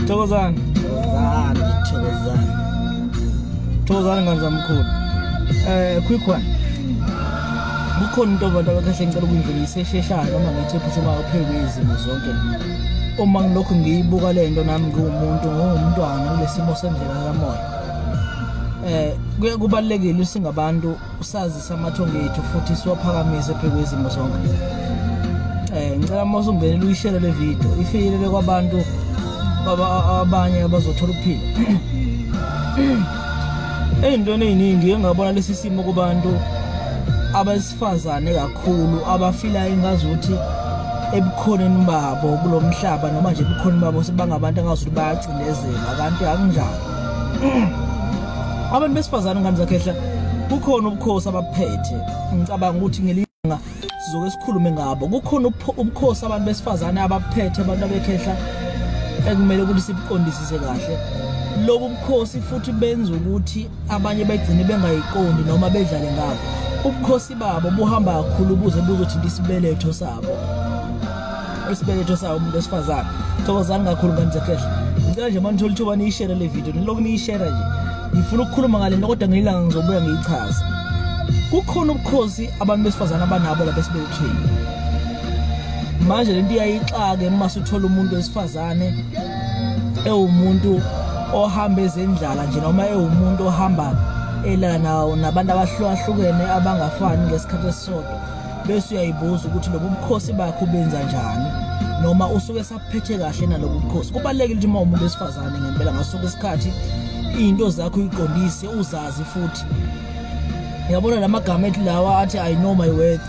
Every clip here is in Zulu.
Thokozani. Thokozani, thokozani. Thokozani ngani zamkhulu. Eh quick one. Kukhona into abantu abakahle ngicela ukuyindlulisa esheshayo noma ngithi phuma uphekwe izimo zonke. Uma ngilokhu ngiyibuka le nto nami ngiwumuntu ngumntwana kulesimo sendlela kamoya. Eh kubalekile singabantu usazisa amathongo ethu futhi siwaphakamise phezu kwezimo zonke um ngicela uma usungenela uyishele le video ifikelele kwabantu abanye abazothola ukuphila ey'ntweni ey'ningi engabona lesi simo kubantu abesifazane kakhulu abafila ingazi ukuthi ebukhoneni babo kulo mhlaba noma nje ebukhoneni babo sebangabantu angazi ukuthi bayacindezelwa kanti akunjalo abantu besifazane ngane zakhehla kukhona ubukhosi abaphethe ngicabanga ukuthi ngelilanga sizoke sikhulume ngabo kukhona ubukhosi abantu besifazane abaphethe abantu abekhehla ekumele ukuthi sibuqondisise kahle lobu bukhosi futhi benza ukuthi abanye begcine bengayiqondi noma bedlale ngabo ubukhosi babo buhamba kakhulu buze buzothinta isibeletho sabo isibeletho sawo umuntu wesifazane thokozani kakhulu ngani zekhehla ngicela nje uma nithola ithuba niyishere le video nilokhu niyishera nje ngifuna ukukhuluma ngale nto kodwa ngeyilanga ngizobuya ngiyichaza kukhona ubukhosi abantu besifazane abanabo lapha esibelethweni manje le nto iyayixake uma suthola umuntu wesifazane ewumuntu ohamba ezendlala nje noma ewumuntu ohamba elala nawo nabantu abahlukahlukene abangafani ngesikhathi esisodwa bese uyayibuza ukuthi lobu bukhosi bakho ubenza njani noma usuke saphethe kahle nalobu bukhosi kubalekile ukuthi uma umuntu wesifazane ngempela ngasuke isikhathi into zakho uyiqondise uzazi futhi yabona lamagama ethi lawa athi i know my worth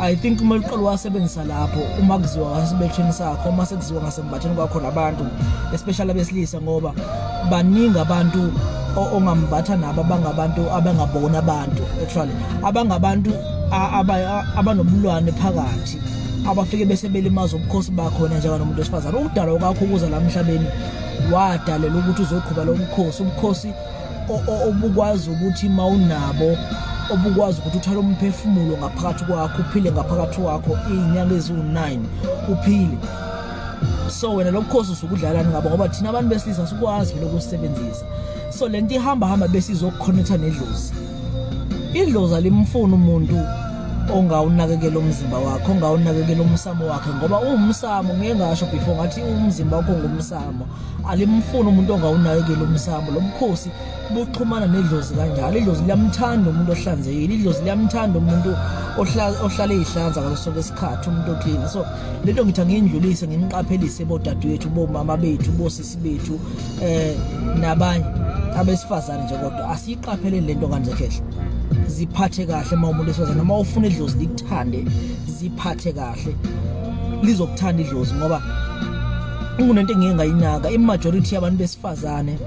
i think uma liqala wasebenzisa lapho uma kuziwa ngasibetheni sakho uma sekuziwa ngasembatheni kwakho nabantu especially abesilisa ngoba baningi abantu ongambatha nabo abangabantu abangabona abantu actually abangabantu abanobulwane phakathi abafike bese belimaza ubukhosi bakhona njenganomuntu wesifazane ukudalwa kwakho ukuza la mhlabeni wadalela ukuthi uzoqhuba lo mkhosi ubukhosi obukwazi ukuthi uma unabo obukwazi ukuthi uthole umphefumulo ngaphakathi kwakho uphile ngaphakathi kwakho iy'nyanga eziwu-9 uphile so wena lo bukhosi usukudlalani ngabo ngoba thina abantu besilisa sikwazi vele ukusisebenzisa so le nto ihamba hamba besizokukhonetha nedlozi idloza limfuna umuntu ongawunakekela umzimba wakhe ongawunakekela umsamo wakhe ngoba uwumsamo ngeke ngasho before ngathi umzimba wakho ngumsamo alimfuni umuntu ongawunakekela umsamo lo mkhosi buxhumana nedlozi kanjalo idlozi liyamthanda umuntu ohlanzekile idlozi liyamthanda umuntu ohlale ihlanza ngaso sonke isikhathi umuntu oclean so lento ngithi angiyindlulise nginiqaphelise bodadewethu bomama bethu bosisi bethu eh nabanye abesifazane nje kodwa asiyiqapheleni lento kanje khehla ziphathe kahle uma umuntu esifazane noma ufuna idlozi likuthande ziphathe kahle lizokuthanda idlozi ngoba kunento engike ngayinaka imajority yabantu besifazane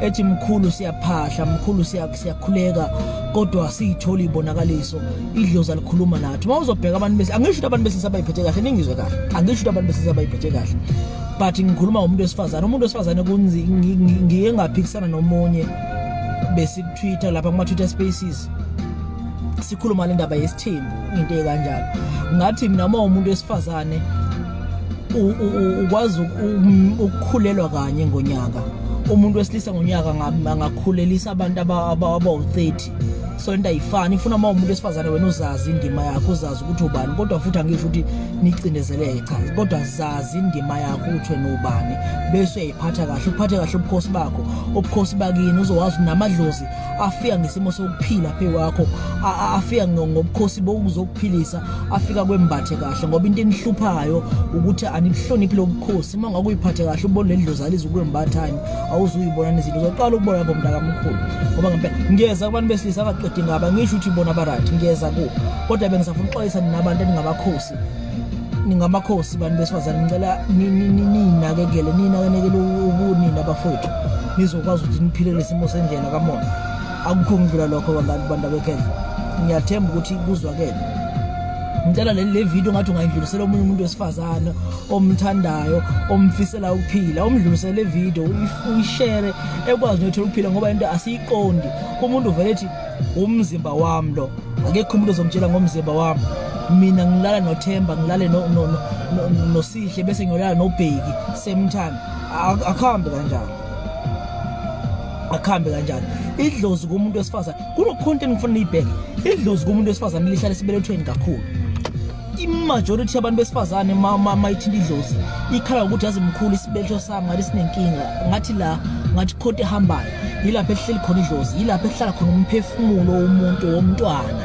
ethi mkhulu siyaphahla mkhulu siyakhuleka kodwa siyithola ibonakaliso idlozi alikhuluma nathi uma uzobheka abantu bese angisho ukuthi abantu besinsabayiphethe kahle ningizwe kahle angisho ukuthi abantu besinsabayiphethe kahle but ngikhuluma ngomuntu wesifazane umuntu wesifazane kunzi ngiye ngaphikisana nomunye besikutwitter lapha kuma-twitter spaces sikhuluma le ndaba yesithembu into ekanjalo ngathi mina uma umuntu wesifazane ukwazi ukukhulelwa kanye ngonyaka umuntu wesilisa ngonyaka angakhulelisa abantu abawu-30 so into ayifani ifuna uma umuntu wesifazane wena uzazi indima yakho uzazi ukuthi ubani kodwa futhi angisho ukuthi nicindezeleke cha kodwa zazi indima yakho ukuthi wena ubani bese uyayiphatha kahle uphathe kahle ubukhosi bakho ubukhosi bakini uzowazi namadlozi afika ngesimo sokuphila phe wakho afika ngobukhosi bokuzokuphilisa afika kwembathe kahle ngoba into enihluphayo ukuthi anibuhloniphi lobukhosi uma ngakuyiphathe kahle ubone lendlozi alizi ukwembathani awuzuyibona nezinto uzoqala ukubona lapho mntakamkhulu ngoba ngempela ngiyeza kubantu besilisa abaqedi ngaba ngisho ukuthi bona barayithi ngiyeza ku kodwa bengisafuna uxwayisa nina abantu eningamakhosi ningamakhosi bantu besifazane ngicela ninakekele ninakenekele ubunini abafowethu nizokwazi ukuthi niphile lesimo sendlela kamona akukho ngidlula lokho bantu bantu abekhendla ngiyathemba ukuthi kuzwakele ngicela le video ngathi ungayidlulisela omunye umuntu wesifazane omthandayo omfisela ukuphila umdlulisele video uyishare ekwazi nothola ukuphila ngoba into asiyiqondi umuntu uvele ethi umzimba wami lo akekho umuntu ozongitshela ngomzimba wami mina ngilala nothemba ngilale nosihle bese ngiyolala nobheki same time akuhambe kanjalo akuhambe kanjalo idlozi kumuntu wesifazane kunokhonto engifuna niyibheke idlozi kumuntu wesifazane lihlale sibelethweni kakhulu imajority yabantu besifazane mayithinta idlozi ikhala ukuthi yazi mkhulu isibetho sami ngathi sinenkinga ngathi la ngathi khonto ehambayo yilapho ehleli khona idlozi yilapho ehlala khona umphefumulo womuntu womntwana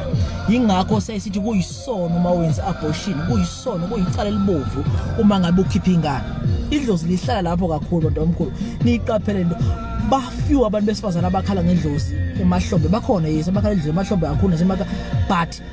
yingakho sesithi kuyisono uma wenza abortion kuyisono kuyicala elibovu uma ngabe ukhipha ingane idlozi lihlala lapho kakhulu bantu omkhulu niyiqaphele into bafew abantu besifazane abakhala ngedlozi emahlombe bakhona yes abakhala edlozi emahlombe kakhulu nasemaka but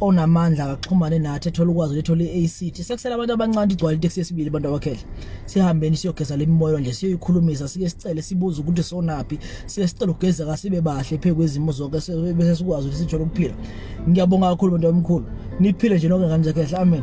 onamandla akaxhumane nathi ethola ukwazi lethola i-ACT sekusela abantu abancane igcwala iteksi yesibili abantu abakhele sihambeni siyogeza lemimoyo nje siyoyikhulumisa sike sicele sibuze ukuthi sonaphi sike sicele ukugeza kasibe bahle phezu kwezimo zonke bese sikwazi ukuthi sithole ukuphila ngiyabonga kakhulu bantu abamkhulu niphile nje nonke ngane zakhe amen